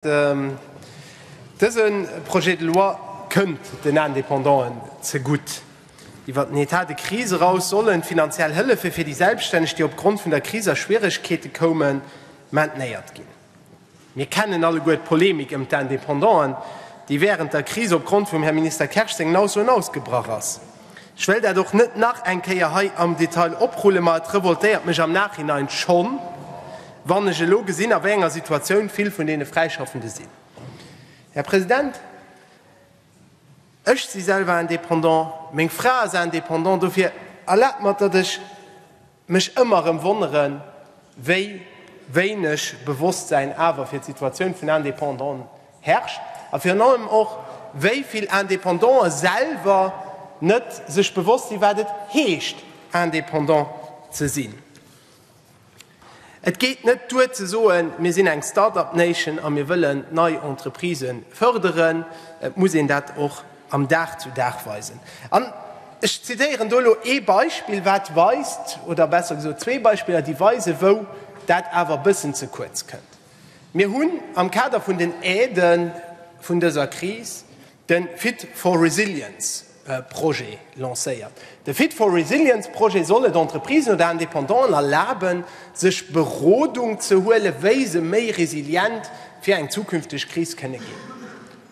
Dëse Projet de loi kënnt den Indépendanten zegutt. Iwwer den État de crise eraus sollen d'finanziell Hëllefe fir déi Selbststänneg, déi opgrond vun der Kris a Schwieregkeete koumen, maintenéiert ginn. Mir kennen alleguer d'Polemik ëm d'Indépendanten, déi wärend der Kris opgrond vum Här Minister Kersch sengen Aussoen ausgebrach ass. Ech wéll dat och net nach eng Kéier hei am Detail oprullen, ma et revoltéiert mech am Nachhinein schonn, wann ech elo gesinn, a wéi enger Situatioun vill vun deene Fräischaffende sinn. Här President, ech si selwer Indépendant, meng Fra ass Indépendant, dofir erlaabt mer, datt ech Mech ëmmer erëm wonneren, wéi wéineg Bewosstsäin awer fir d'Situatioun vun Indépendanten herrscht a virun allem och, wéi vill Indépendante selwer net sech bewosst sinn, wat et heescht, indépendant ze sinn. Et geet net duer ze soen, mir sinn eng Start-up Nation a mir wëllen nei Entreprisen fërderen. Et muss een dat och am Dag zu Dag weisen. An ech zitieren do elo ee Beispill, wat weist, oder besser gesot zwee Beispiller, déi weisen, wou dat awer e bëssen ze kuerz kënnt. Mir hunn am Kader vun den Aidë vun dëser Kris de Fit for Resilience Projet lancéiert. De Fit for Resilience Projet soll et Entreprisen oder Indépendanten erlaben, sech Berodung ze huelen, wéi se méi resilient fir eng zukünfteg Kris kënne ginn.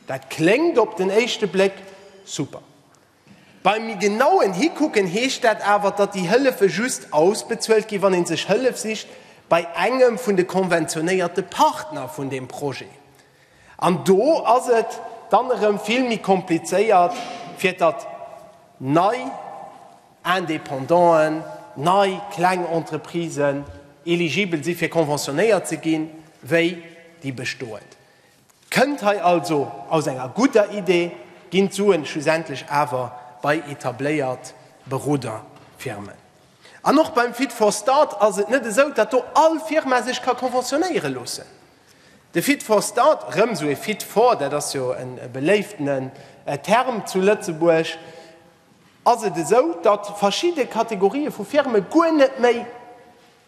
Dat kléngt op den éischte Bléck super. Beim méi genauen Hikucken heescht dat awer, datt déi Hëllefe just ausbezuelt ginn, wann ee sech Hëllef sicht bei engem vun de konventionéierte Partner vun deem Projet. An do ass et dann erëm vill méi komplizéiert, fir datt nei Indépendanten, nei kleng Entreprisen eligibel si fir konventionéiert ze ginn, wéi déi bestoend. Kënnt hei also aus enger gudder Idee, ginn d'Suen schlussendlech awer bei etabléiert Beroderfirmen. An och beim Fit for Start ass et net esou, datt do all Firma sech ka conventionnéiere loossen. De Fit for Start, erëm esou ee Fit for, dat ass jo e beléiftenen Term zu Lëtzebuerg, ass et esou, datt verschidde Kategorië vu Firme guer net méi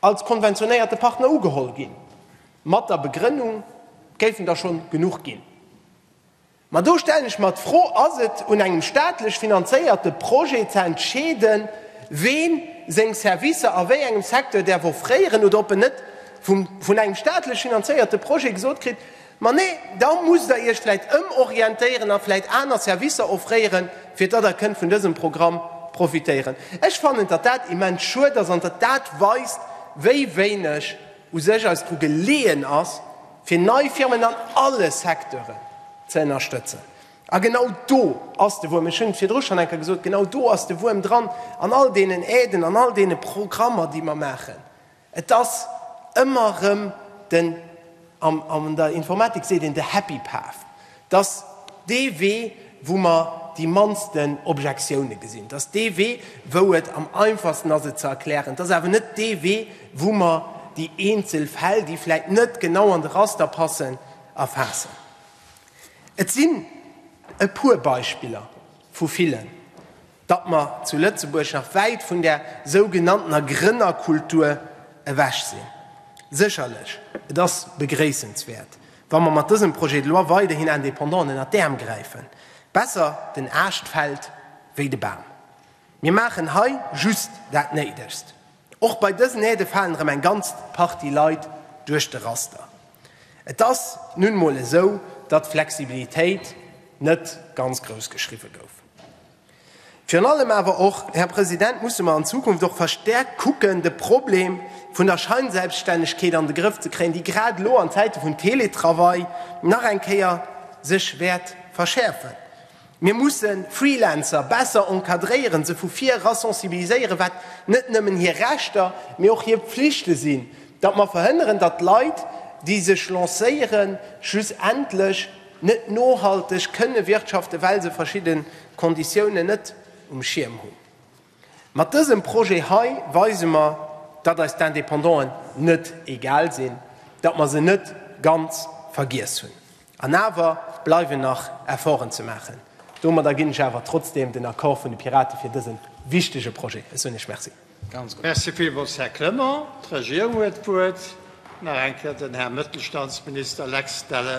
als konventionéierte Partner ugeholl ginn, mat der Begrënnung, et géifen der schonn genuch ginn. Ma do stellen ech mer d'Fro, Ass et un engem staatlech finanzéierte Projet ze entscheeden, ween seng Servicer a wéi engem Secteur däerf offréieren oder ob en net vun engem staatlech finanzéierte Projet gesot kritt, Ma nee, da musst der iech vläit ëmorientéieren a vläit aner Servicer offréieren, fir datt der kënnt vun dësem Programm profitéieren. Ech fannen, datt dat immens schued ass an datt dat weist, wéi wéineg u sech eis dru geleeën ass, fir nei Firmen an alle Secteuren ze ënnerstëtzen. A genau do ass de Wuerm, ech hunn et virdru schonn eng Kéier gesot, genau do ass de Wuerm dran, an all deenen Aiden, an all deene Programmer, déi mer maachen. Et ass ëmmer erëm den, an der Informatik seet een de happy path, dass dee Wee, wou mer déi mannsten Objektioune gesinn, dass dee Wee, wou et am einfachsten ass et ze erklären, dass awer net dee Wee, wou mer déi eenzel Fäll, déi vläit net genau an de Raster passen, erfaassen. Et sinn e puer Beispiller vu villen. datt mer zu Lëtzebuerg nach wäit vun där sougenanntener Grënnerkultur ewech sinn. Sécherlech, et ass begréissenswäert, wa mer mat dësem Projet de loi weiderhin Indépendant ënner d'Äerm gräifen. Besser den Aascht fält wéi de Bam. Mir maachen hei just dat Néidegst. Och bei dësen Aide falen erëm eng ganz Partie Leit duerch de Raster. Et ass nun emol esou, datt d'Flexibilitéit net ganz grouss geschriwwe gouf. Virun allem awer och, Här President, musse mer an Zukunft och verstärkt kucken, de Problem vun der Scheinselbststännegkeet an de Grëff ze kréien, déi grad elo an Zäite vun Teletravail nach eng Kéier sech wäert verschäerfen. Mir musse Freelancer besser encadréieren, se vu vir era sensibiliséieren, wat net nëmmen hir Rechter, mee och hir Pflichte sinn, datt mer verhënneren, datt Leit, déi sech lancéieren, schlussendlech, Net nohalteg kënne wirtschaften, well se verschidde Konditiounen net um Schierm hunn. Mat dësem Projet hei weise mer, datt eis d'Indépendanten net egal sinn, datt mer se net ganz vergiess hunn. An awer bleiwen nach Efforten ze maachen. Domadder ginn ech awer trotzdem den Accord vun de Piraten fir dëse wichtege Projet. Ech soen Iech Merci. Merci villmools, Här Clement. D'Regierung huet d'Wuert. Nach eng Kéier den Här Mëttelstandsminister Lex Delles.